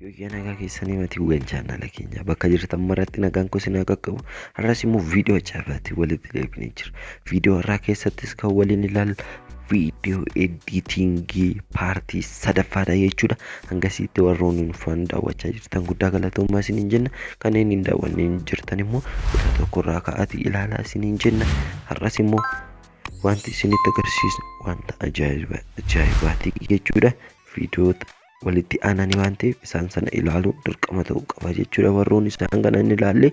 Yookiin nagaa keessanii matii ugan chaanala keenya bakka jirtan maratti nagaan kun sinaa qaqqabu har'as immoo viidiyoo ajaa'ibaatiin walitti deebinee jira. Viidiyoo har'aa keessattis kan waliin ilaalu viidiyoo editingii paartii sadaffaadha jechuudha. Hangasitti warroonni nufaan daawwachaa jirtan guddaa galatoomaa isiniin jenna. Kanneen hin daawwanne jirtan immoo tokko tokko irraa ka'aatii ilaalaa isiniin jenna. Har'as immoo Wanti isinitti agarsiisnu wanta ajaa'iba ajaa'ibaati jechuudha. Viidiyoota walitti aananii waan ta'eef isaan sana ilaaluun dirqama ta'uu qaba jechuudha. Warroonni isaan kana hin ilaalle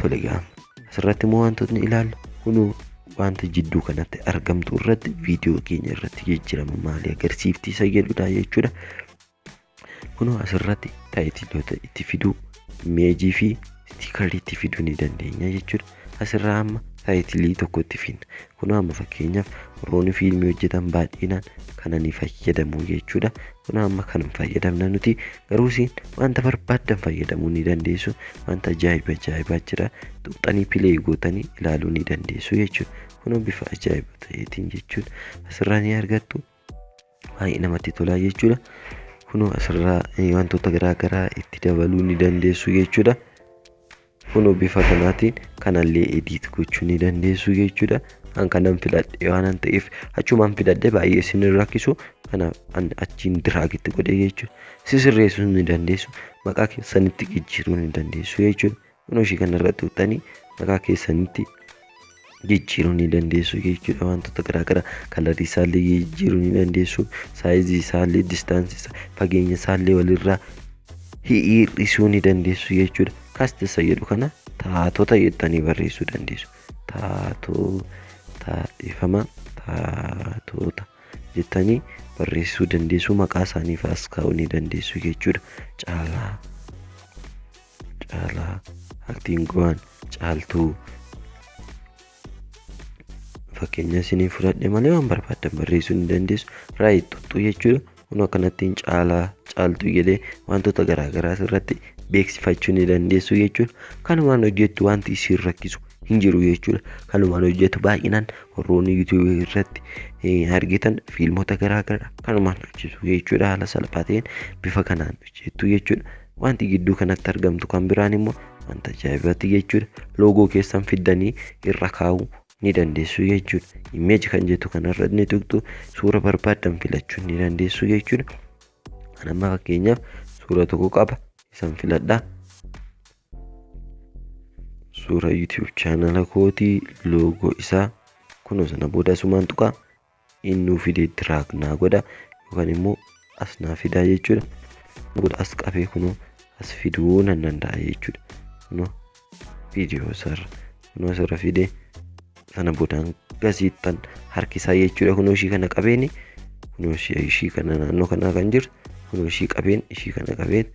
tole gaama. Asirratti immoo wantootni ilaalle kunuu wanta jidduu kanatti argamtu irratti viidiyoo keenya irratti jijjiirama maalii agarsiifti isa jedhudha jechuudha. kunoo asirratti taayitiloota itti fiduu imeejii fi istiikarii itti fiduu ni dandeenya jechuudha asirraa amma taayitilii tokko itti fidna kunoo amma fakkeenyaaf warroonni fiilmii hojjetan baay'inaan kana ni fayyadamu jechuudha kunoo amma kan hin fayyadamne nuti garuu isin wanta barbaaddan fayyadamuu ni dandeessu wanta ajaa'iba ajaa'ibaa jira tuqxanii pilee gootanii ilaaluu ni dandeessu jechuudha kunoo bifa ajaa'iba ta'eetiin jechuudha asirraa ni argattu baay'ee namatti tolaa jechuudha. Kunoo asirraa eh, wantoota garaa garaa itti dabaluu ni dandeessu jechuudha. Kunoo bifa kanaatiin kanallee ediit gochuu ni dandeessu jechuudha. An kanan filadhe waanan ta'eef achumaan filadhe baay'ee isin hin rakkisu. Kanaaf an achiin diraagitti godhe jechuudha. Si sirreessuu ni dandeessu. Maqaa keessanitti jijjiiruu ni dandeessu jechuudha. Kunoo ishii kana irratti tuqxanii maqaa keessanitti jijjiiruu ni dandeessu jechuudha wantoota garaagaraa kalarii isaallee jijjiiruu ni dandeessu saayizii isaallee distaansii isaa fageenya isaallee walirraa hir'isuu ni dandeessu jechuudha kasti isa jedhu kana taatota jettanii barreessuu dandeessu taatota dhiifama taatota jettanii barreessuu dandeessu maqaa isaaniif as kaa'uu ni dandeessu jechuudha caalaa Caalaa aktiin gowaan caaltuu fakkeenyaa isinii fudhadhe malee waan barbaaddan barreessuu ni dandeessu raayit xuxxuu jechuudha kun akkanattiin caalaa caaltuu jedhee wantoota garaagaraa irratti beeksifachuu ni dandeessu jechuudha kanumaan hojjettu wanti isin rakkisu hin jiru jechuudha kanumaan hojjettu baay'inaan warroonni yuutuubii irratti argitan fiilmota garaagaraa kanumaan hojjetu jechuudha haala salphaa ta'een bifa kanaan hojjettu jechuudha Wanti gidduu kanatti argamtu kan biraan immoo wanta ajaa'ibati jechuudha. Loogoo keessan fiddanii irra kaa'uu ni dandeessu jechuudha. Image kan jettu kanarra ni tuqxu suura barbaaddan filachuu ni dandeessu jechuudha. Kan amma fakkeenyaaf suura tokko qaba isan filadha. Suura YouTube chaanala kootii loogoo isaa kunuunsa na booda asumaan tuqaa. in nuu fidee drag naa godha yookaan immoo as naa fidaa jechuudha kun as qabee kunoo as fiduu nan danda'a jechuudha kunoo viidiyoo isaarra kunoo asirra fidee sana boodaan gasiittan harkisaa jechuudha kunoo ishii kana qabeeni kunoo ishii ishii kana naannoo kanaa kan jirtu kunoo ishii qabeen ishii kana qabeen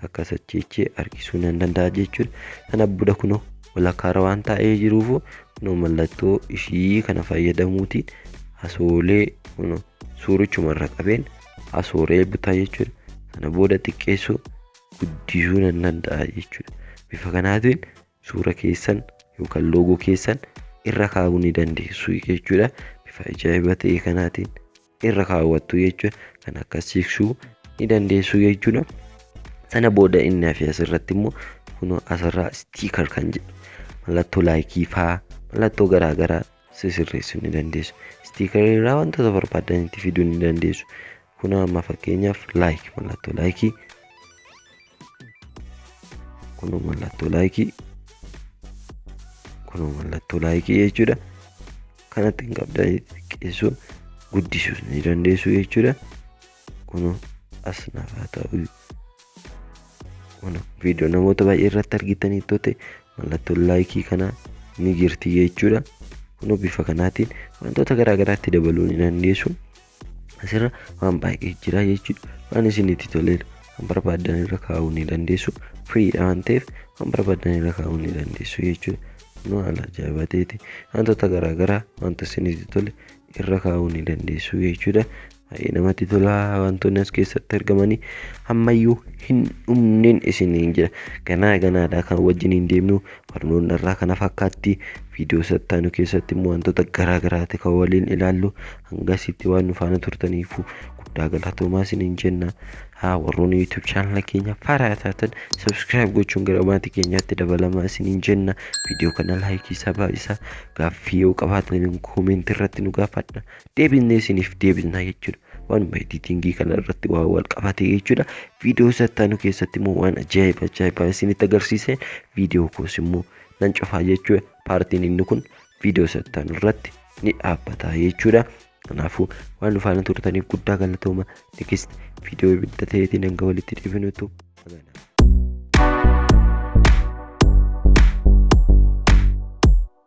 akka sacheechee harkisuu nan danda'a jechuudha sana booda kunoo walakkaarra waan taa'ee jiruufu Kunoo mallattoo ishii kana fayyadamuutiin asoolee kunoo suurichuma irra qabeen asoolee butaa jechuudha. Sana booda xiqqeessuu guddisuu nan danda'a jechuudha. Bifa kanaatiin suura keessan yookaan loogoo keessan irra kaa'uu ni dandeessu jechuudha. Bifa ajaa'iba ta'e kanaatiin. irra kaawwattu jechuudha. Kan akka siiksuu ni dandeessu jechuudha. Sana booda inni hafe asirratti immoo kunoo asirraa stiikar kan jedhu mallattoo laayikii faa mallattoo garaagaraa sisirreessuu ni dandeessu. Stiikarii irraa wantoota barbaadan itti fiduu ni dandeessu. Kunoo amma fakkeenyaaf laayik mallattoo laayikii kun mallattoo laayikii kun mallattoo laayikii jechuudha kanatti hin qabda xiqqeessuu guddisuus ni dandeessu jechuudha kun as naaf haa ta'u kun viidiyoo namoota baay'ee irratti argitanii toote mallattoo laayikii kana ni jirti jechuudha kun bifa kanaatiin wantoota garaagaraatti dabaluu ni dandeessu Asirra waan baay'ee jira jechuudha. Waan isinitti toleedha. Waan barbaaddan irra kaa'uu ni dandeessu. Firiidha waan ta'eef waan barbaaddan irra kaa'uu ni dandeessu jechuudha. Nu haala ajaa'iba ta'eeti. Wantoota garaa garaa wanta isinitti tole irra kaa'uu ni dandeessu jechuudha. Baay'ee namatti tola wantoonni as keessatti argamanii ammayyuu hin dhumneen isiniin jira. Ganaa ganaadha kan wajjin hin deemnu Barnoonni har'aa kana fakkaatti. Viidiyoo isa itti aanu keessatti immoo wantoota garaa garaati kan waliin ilaallu. Hanga asitti waan nu faana turtaniifu guddaa galatoomaa isiniin jenna. Haa warroonni YouTube chaanala keenya faaraa taatan subscribe gochuun gara maatii keenyaatti dabalamaa isiniin jenna. Viidiyoo kana laayikii isaa baay'isaa. Gaaffii yoo qabaatan koomentii irratti nu gaafadha. deebisnee isiniif deebisna jechuudha. Waanuma editingii kana irratti waan wal qabate jechuudha. Viidiyoo isa itti aanu keessatti immoo waan ajaa'iba ajaa'ibaa isinitti agarsiiseen viidiyoo koos immoo nan cufaa jechuudha. Paartiin inni kun viidiyoo isa itti aanu irratti ni dhaabbata jechuudha. Kanaafuu waan nu faana turtaniif guddaa galatooma. Next viidiyoo ibidda ta'eetiin hanga walitti deebinutu. Amanaa.